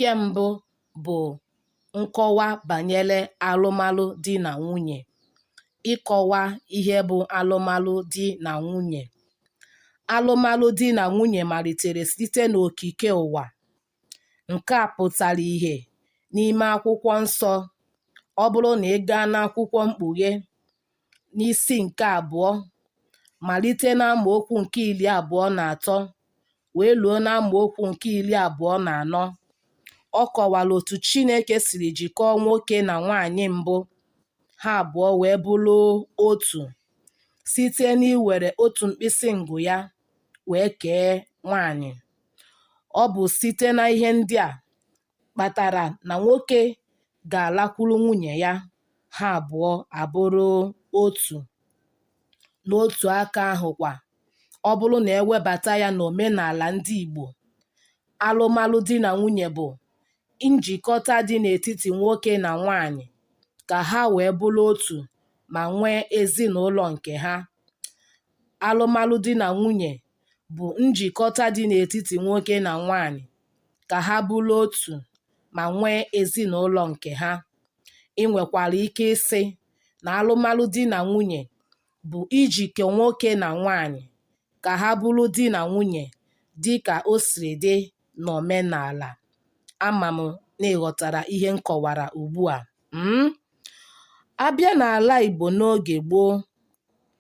Nke mbụ bụ nkọwa banyere alụmalụ di na nwunye, ịkọwa ihe bụ alụmalụ di na nwunye. Alụmalụ di na nwunye malitere site n'okike ụwa. Nke a pụtara ihe n'ime akwụkwọ nsọ. Ọ bụrụ na ị gaa n'akwụkwọ Mkpughe, n'isi nke abụọ, malite n'amaokwu nke iri abụọ na atọ wee luo n'amaokwu nke iri abụọ na anọ, ọ kọwara otu Chineke siri jikọọ nwoke na nwaanyị mbụ, ha abụọ wee bụrụ otu site n'iwere otu mkpịsị ngụ ya wee kee nwaanyị. Ọ bụ site na ihe ndị a kpatara na nwoke ga-alakwuru nwunye ya, ha abụọ abụrụ otu. N'otu aka ahụkwa, ọ bụrụ na e webata ya n'omenala ndị Igbo, alụmalụ di na nwunye bụ njikọta dị n'etiti nwoke na nwaanyị ka ha wee bụrụ otu ma nwee ezinụlọ nke ha. Alụmalụ di na nwunye bụ njikọta dị n'etiti nwoke na nwaanyị ka ha bụrụ otu ma nwee ezinụlọ nke ha. I nwekwara ike ịsị na alụmalụ di na nwunye bụ ijikọ nwoke na nwaanyị ka ha bụrụ di na nwunye dị ka o siri dị n'omenala. Ama m na ị ghọtara ihe m kọwara ugbu a. um A bịa n'ala Igbo n'oge gboo,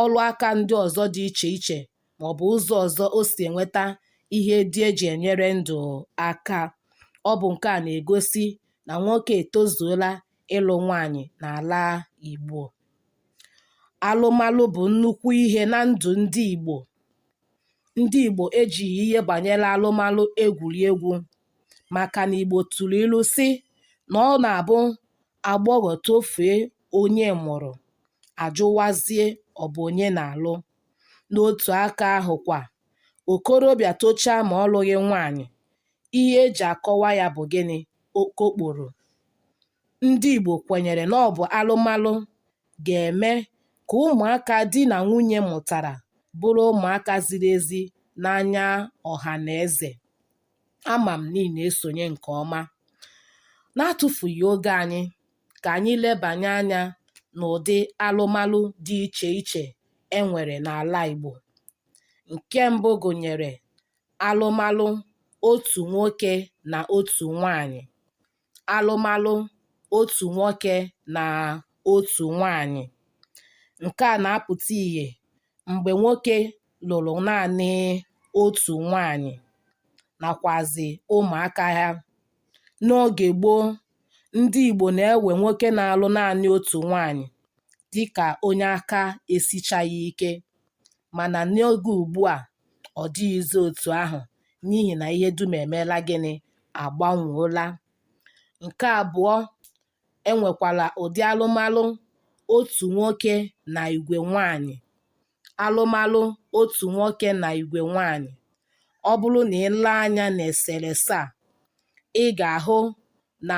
ọrụ aka ndị ọzọ dị iche iche maọbụ ụzọ ọzọ o si enweta ihe ndị e ji enyere ndụ aka. Ọ bụ nke a na-egosi na nwoke etozuola ịlụ nwaanyị n'ala Igbo. Alụmalụ bụ nnukwu ihe na ndụ ndị Igbo. Ndị Igbo ejighị ihe banyere alụmalụ egwuri egwu maka na Igbo tụrụ ilu sị na ọ na-abụ agbọghọ tofee onye mụrụ, a jụwazie ọ bụ onye na-alụ. N'otu aka ahụ kwa, okorobịa tochaa ma ọ lụghị nwaanyị, ihe e ji akọwa ya bụ gịnị? Okokporo. Ndị Igbo kwenyere na ọ bụ alụmalụ ga-eme ka ụmụaka di na nwunye mụtara bụrụ ụmụaka ziri ezi n'anya ọha na eze. ama m na ị na-esonye nke ọma. N'atụfughị oge anyị, ka anyị lebanye anya n'ụdị alụmalụ dị iche iche e nwere n'ala Igbo. Nke mbụ gụnyere alụmalụ otu nwoke na otu nwaanyị. alụmalụ otu nwoke na otu nwaanyị. Nke a na-apụta ihe mgbe nwoke lụrụ naanị otu nwaanyị nakwazị ụmụaka ya. N'oge gboo, ndị Igbo na-ewe nwoke na-alụ naanị otu nwaanyị dịka onye aka esichaghị ike mana n'oge ugbua, ọ dịghịzị otu ahụ. n'ihi na ihe dum emeela gịnị agbanweola nke abụọ e nwekwara ụdị alụmalụ otu nwoke na igwe nwaanyị alụmalụ otu nwoke na igwe nwaanyị ọ bụrụ na ị lee anya n'eserese a ị ga-ahụ na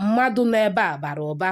mmadụ nọ ebe a bara ụba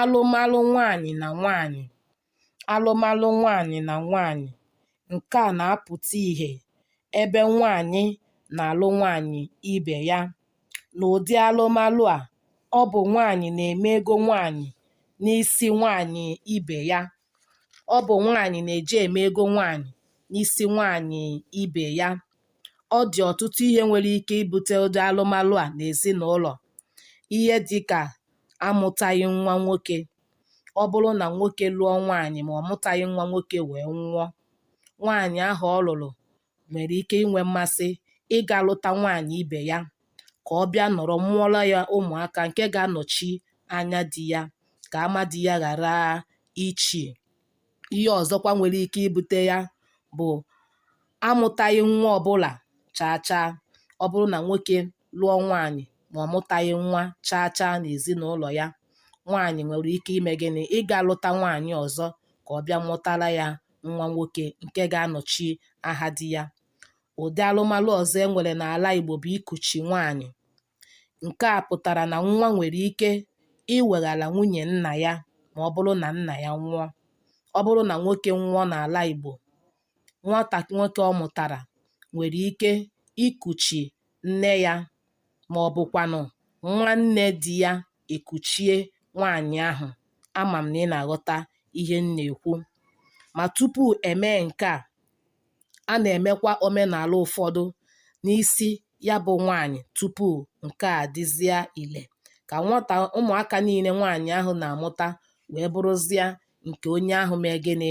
alụmalụ nwaanyị na nwaanyị alụmalụ nwaanyị na nwaanyị nke a na-apụta ihe ebe nwaanyị na-alụ nwaanyị ibe ya n'ụdị alụmalụ a ọ bụ nwaanyị na-eme ego nwaanyị n'isi nwaanyị ibe ya ọ bụ nwaanyị na-eje eme ego nwaanyị n'isi nwaanyị ibe ya ọ dị ọtụtụ ihe nwere ike ibute ụdị alụmalụ a n'ezinụlọ ihe dịka amụtaghị nwa nwoke ọ bụrụ na nwoke lụọ nwaanyị ma ọ mụtaghị nwa nwoke wee nwụọ nwaanyị ahụ ọ lụrụ nwere ike inwe mmasị ịga lụta nwaanyị ibe ya ka ọ bịa nọrọ mụọrọ ya ụmụaka nke ga-anọchi anya di ya ka ama di ya ghara ichi. Ihe ọzọkwa nwere ike ibute ya bụ amụtaghị nwa ọbụla chaa chaa. Ọ bụrụ na nwoke lụọ nwaanyị ma ọ mụtaghị nwa chaa chaa n'ezinụlọ ya, nwaanyị nwere ike ime gịnị? Ịga lụta nwaanyị ọzọ ka ọ bịa mụtara ya nwa nwoke nke ga-anọchi aha di ya. Ụdị alụmalụ ọzọ e nwere n'ala Igbo bụ ikuchi nwaanyị. Nke a pụtara na nwa nwere ike iweghara nwunye nna ya ma ọ bụrụ na nna ya nwụọ. Ọ bụrụ na nwoke nwụọ n'ala Igbo, nwata nwoke ọ mụtara nwere ike ikuchi nne ya ma ọ bụkwanụ nwanne di ya ekuchie nwaanyị ahụ. Ama m na ị na-aghọta ihe m na-ekwu. Ma tupu e mee nke a, a na-emekwa omenala ụfọdụ n'isi ya bụ nwaanyị tupu nke a dịzịa ile ka nwata ụmụaka niile nwaanyị ahụ na-amụta wee bụrụzịa nke onye ahụ mee gịnị?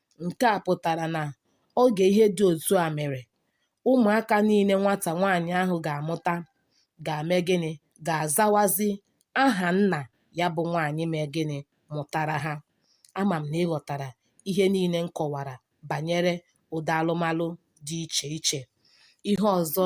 Nke a pụtara na oge ihe dị otu a mere, ụmụaka niile nwata nwaanyị ahụ ga-amụta ga-eme gịnị? Ga-azawazi aha nna ya bụ nwaanyị mee gịnị? Mụtara ha. Ama m na ị ghọtara ihe niile m kọwara banyere ụdị alụmalụ dị iche iche. Ihe ọzọ